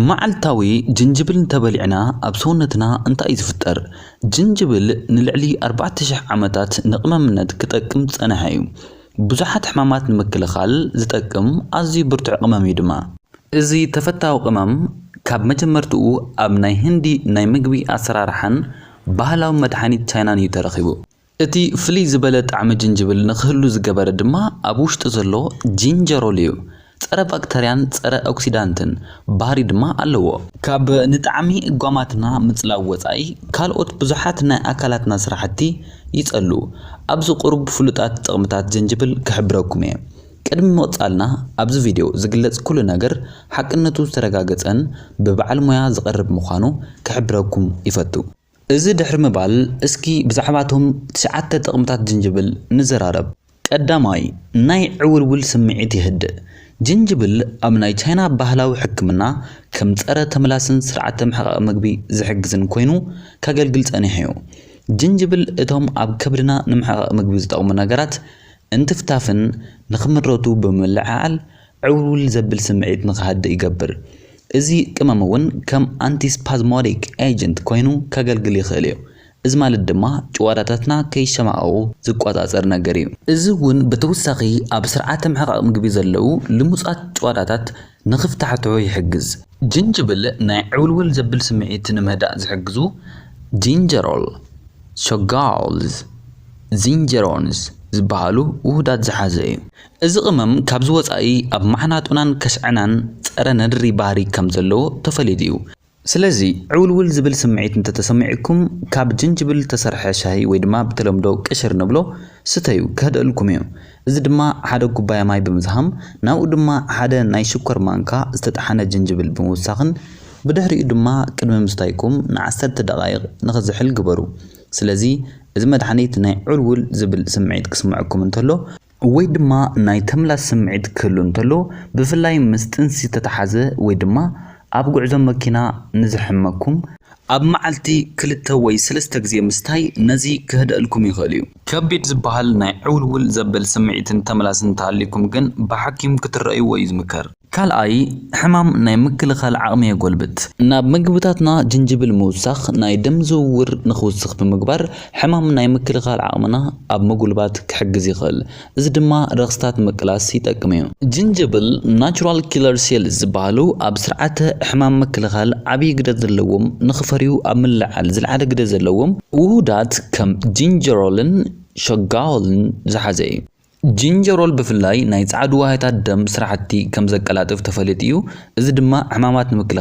መዓልታዊ ጅንጅብል እንተበሊዕና ኣብ ሰውነትና እንታይ'ዩ ዝፍጠር? ጅንጅብል ንልዕሊ ኣርባዕተ ሽሕ ዓመታት ንቕመምነት ክጠቅም ዝጸንሐ'ዩ። ብዙሓት ሕማማት ንምክልኻል ዝጠቅም ኣዝዩ ብርቱዕ ቅመም'ዩ ድማ። እዚ ተፈታዊ ቅመም ካብ መጀመርታኡ ኣብ ናይ ህንዲ ናይ መግቢ ኣሰራርሓን ባህላዊ መድሓኒት ቻይናን'ዩ ተረኺቡ። እቲ ፍልይ ዝበለ ጣዕሚ ጅንጅብል ንክህሉ ዝገበረ ድማ ኣብ ውሽጡ ዘሎ ጂንጀሮል እዩ። ፀረ ባክተርያን ፀረ ኦክሲዳንትን ባህሪ ድማ ኣለዎ። ካብ ንጣዕሚ እጓማትና ምፅላው ወፃኢ ካልኦት ብዙሓት ናይ ኣካላትና ስራሕቲ ይፀሉ። ኣብዚ ቁሩብ ፍሉጣት ጥቕምታት ጅንጅብል ክሕብረኩም እየ። ቅድሚ ምቕፃልና ኣብዚ ቪድዮ ዝግለፅ ኩሉ ነገር ሓቅነቱ ዝተረጋገፀን ብበዓል ሞያ ዝቐርብ ምዃኑ ክሕብረኩም ይፈቱ። እዚ ድሕሪ ምባል እስኪ ብዛዕባ እቶም ትሽዓተ ጥቕምታት ጅንጅብል ንዘራረብ። ቀዳማይ፣ ናይ ዕውልውል ስምዒት የህድእ። ጅንጅብል ኣብ ናይ ቻይና ባህላዊ ሕክምና ከም ጸረ ተምላስን ስርዓተ ምሕቓቕ መግቢ ዝሕግዝን ኮይኑ ከገልግል ጸኒሑ እዩ። ጅንጅብል እቶም ኣብ ከብድና ንምሕቓቕ መግቢ ዝጠቕሙ ነገራት እንትፍታፍን ንኽምረቱ ብምልዕዓል ዕውልውል ዘብል ስምዒት ንኽሃድእ ይገብር። እዚ ቅመም እውን ከም ኣንቲስፓዝሞዲክ ኤጀንት ኮይኑ ከገልግል ይኽእል እዩ፣ እዚ ማለት ድማ ጭዋዳታትና ከይሸማቐቑ ዝቆጻጸር ነገር እዩ። እዚ እውን ብተወሳኺ ኣብ ስርዓተ ምሕቓቕ ምግቢ ዘለዉ ልሙጻት ጭዋዳታት ንኽፍታሕትሑ ይሕግዝ። ጅንጅብል ናይ ዕውልውል ዘብል ስምዒት ንምህዳእ ዝሕግዙ ጂንጀሮል፣ ሾጋልዝ፣ ዚንጀሮንስ ዝበሃሉ ውሁዳት ዝሓዘ እዩ። እዚ ቅመም ካብዚ ወጻኢ ኣብ ማዕናጡናን ከስዐናን ጸረ ነድሪ ባህሪ ከም ዘለዎ ተፈሊጡ እዩ። ስለዚ ዕውልውል ዝብል ስምዒት እንተ ተሰሚዑኩም ካብ ጅንጅብል ዝተሰርሐ ሻሂ ወይ ድማ ብተለምዶ ቅሽር ንብሎ ስተዩ ከህድኣልኩም እዩ። እዚ ድማ ሓደ ኩባያ ማይ ብምዝሃም ናብኡ ድማ ሓደ ናይ ሽኮር ማንካ ዝተጠሓነ ጅንጅብል ብምውሳኽን ብድሕሪኡ ድማ ቅድሚ ምስታይኩም ንዓሰርተ ደቓይቕ ንኽዝሕል ግበሩ። ስለዚ እዚ መድሓኒት ናይ ዕውልውል ዝብል ስምዒት ክስመዐኩም እንተሎ ወይ ድማ ናይ ተምላስ ስምዒት ክህሉ እንተሎ፣ ብፍላይ ምስ ጥንሲ ዝተተሓዘ ወይ ድማ ኣብ ጉዕዞ መኪና ንዘሐመኩም፣ ኣብ መዓልቲ ክልተ ወይ ሰለስተ ግዜ ምስታይ ነዚ ከህድኣልኩም ይኽእል እዩ። ከቢድ ዝበሃል ናይ ዕውልውል ዘብል ስምዒትን ተምላስን እንተሃልዩኩም ግን ብሓኪም ክትረኣይዎ እዩ ዝምከር። ካልኣይ፣ ሕማም ናይ ምክልኻል ዓቕሚ የጎልብት። ናብ ምግብታትና ጅንጅብል ምውሳኽ ናይ ደም ዝውውር ንኽውስኽ ብምግባር ሕማም ናይ ምክልኻል ዓቕምና ኣብ ምጉልባት ክሕግዝ ይኽእል። እዚ ድማ ረኽስታት ንምቅላስ ይጠቅም እዩ። ጅንጅብል ናቹራል ኪለር ሴልስ ዝበሃሉ ኣብ ስርዓተ ሕማም ምክልኻል ዓብዪ ግደ ዘለዎም ንኽፈርዩ ኣብ ምልዕዓል ዝልዓለ ግደ ዘለዎም ውሁዳት ከም ጂንጀሮልን ሸጋወልን ዝሓዘ እዩ። ጂንጀሮል ብፍላይ ናይ ጻዕዱ ዋህዮታት ደም ስራሕቲ ከም ዘቀላጥፍ ተፈሊጡ እዩ፣ እዚ ድማ ሕማማት ንምክልኻል።